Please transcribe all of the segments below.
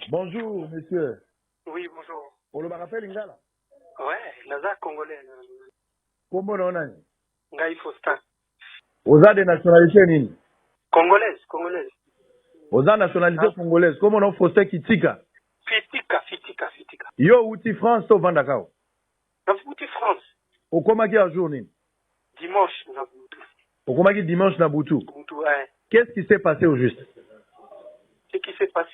Bonjour monsieur. Oui bonjour. Olobaka pe lingala? Ouais, naza congolais. Kombo na yo nani? Ngai Faustin. Oza de nationalite nini? Congolaise, congolaise. Oza nationalite ah. congolaise. Kombo na yo Faustin Kitika? Fitika, Fitika, Fitika. Yo outi France to vandaka awa? Na wuti France. Okomaki en jour nini? Dimanche na butu. Okomaki dimanche na butu? Butu eh. Qu'est-ce qui s'est passe au juste? Ce qui s'est passe,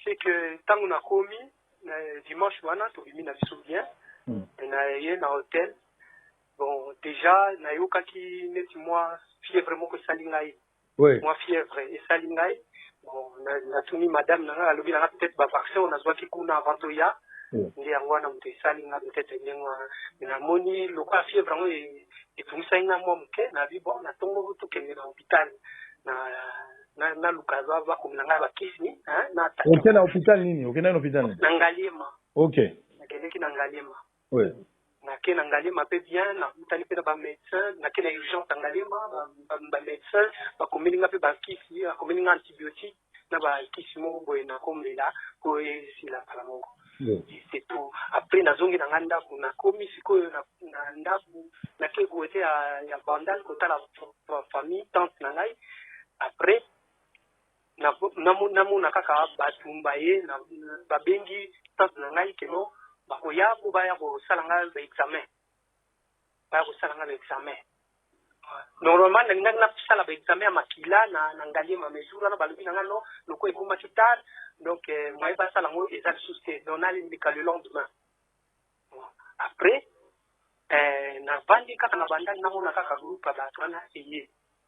c'est que tango nakomi na dimanche wana tobimi na biso bien. Mm. Naye na hotel. Bon, dejà nayokaki neti mwa fièvre moko esali ngai. mua fièvre esali ngai bon na tuni madame na ngai alobi na ngai peut etre ba vaccin oyo na zuaki kuna avant to ya nde yango wana moto esali ngai peut etre ndenge wana mais na moni lokola fièvre yango etungisaki ngai mua moke na bi bon na tongo to kende na hopital na na luka ba komela ngai ba kisi hein na tata okenda hopital nini okenda hopital na ngaliema okay na kendeki na ngaliema Oui. Nake na Ngaliema pe bien, nakutani pe na ba medecins, nake na urgence ya Ngaliema, ba medecins bakomeli nga pe ba kisi, bakomeli nga antibiotiques na ba kisi moko boye nakomela po esila kala moko. Oui. C'est tout. Après nazongi na nga ndaku, nakomi sikoyo na ndaku, nake cote ya Bandal kotala famille, tante na ngai. Après na mona kaka batu baye ba bengi tante na ngai que non bakoya po baya kosala nga ba examen baya kosala nga ba examen normalement na lingaki na sala ba examen ya makila na ngaliema mais jour wana balobi na nga non lokola ekomaki tard donc moyen basala ngo eza lisusu te donc na leka le lendemain après na vandi kaka na bandal na mona kaka groupe ya batu wana eye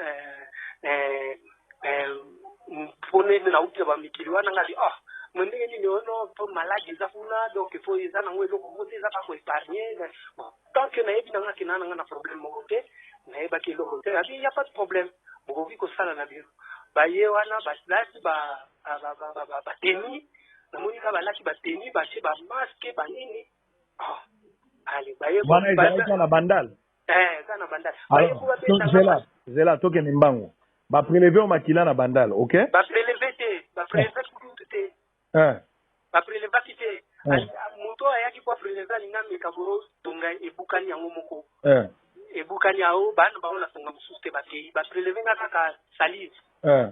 eh, eh, eh, mpona ete nauti ya bamikili wana ngai oh, me ndenge nini ono oh, mpo maladi eza kuna donc fo eza nango eloko moko te eza kaka koepargne bon tant que nayebi nanga kena nanga na problème moko te nayebaki eloko te abi ya pas de problème bokoki kosala na bino baye wana balati bateni namoni ka balati bateni batie bamaske banini ah, ale baye wana ezalaki na bandale Alors, zela, zela, toke ni mbangu. Ba prelever au makila na bandal, ok? Ba prelever te, ba prelever eh. kutu te. Eh. Ba prelever ki te. Eh. Moto ayaki kwa prelever ni ngambe kaboro tonga ebukani yango moko. Eh. Ebukani yao bana ba ona tonga mususu te ba kei. Ba prelever nga kaka salive. Eh.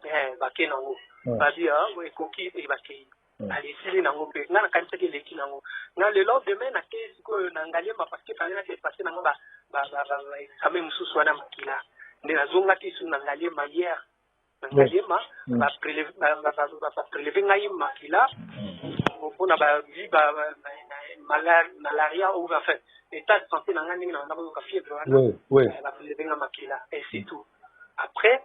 Eh, ba kei nango. Eh. Ba bi, ah, ekoki, eh, ba kei. Ngali esili nango mpe nga nakanisaki eleki nango nga le lendemain nakeyi sikoyo na ngaliema parce que fallait na depasse nango ba ba ba ba ba examen mususu wana makila nde nazongaki lisusu na ngaliema hier na ngaliema ba preleve ba ba ba ba ba preleve ngai makila mpona ba vi ba ba ba- mala- malaria ou enfin état de santé na ngai ndenge na banda koyoka fièvre wana Oui, oui. Eh, ba preleve nga makila et c'est tout après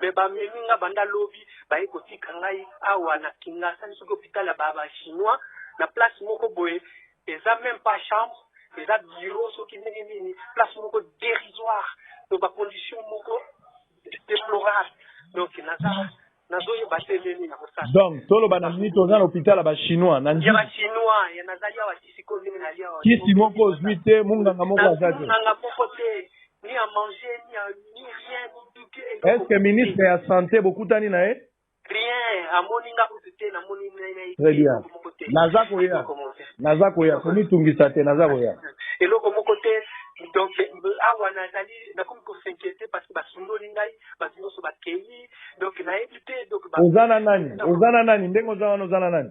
Mais ba memi nga banda lobi baye kotika ngai awa na kingasani soki hopital ya ba ba chinois na place moko boye eza meme pas chambre eza bureau soki ndenge nini place moko derisoire donc ba conditions moko deplorable donc naza nazoyeba te nde nini nakosala donc toloba na nini toza na hopital ya ba chinois na ya ba nji chinois ya nazali awa kisi ko ndenge nali awa kisi moko ozwi te munganga moko aza te munganga moko te Est-ce que ministre ya sante bokutani na ye? Très bien. Naza koya. Naza koya. Komitungisa te, naza koya. Oza na nani? Oza na nani? Ndenge oza wana oza na nani?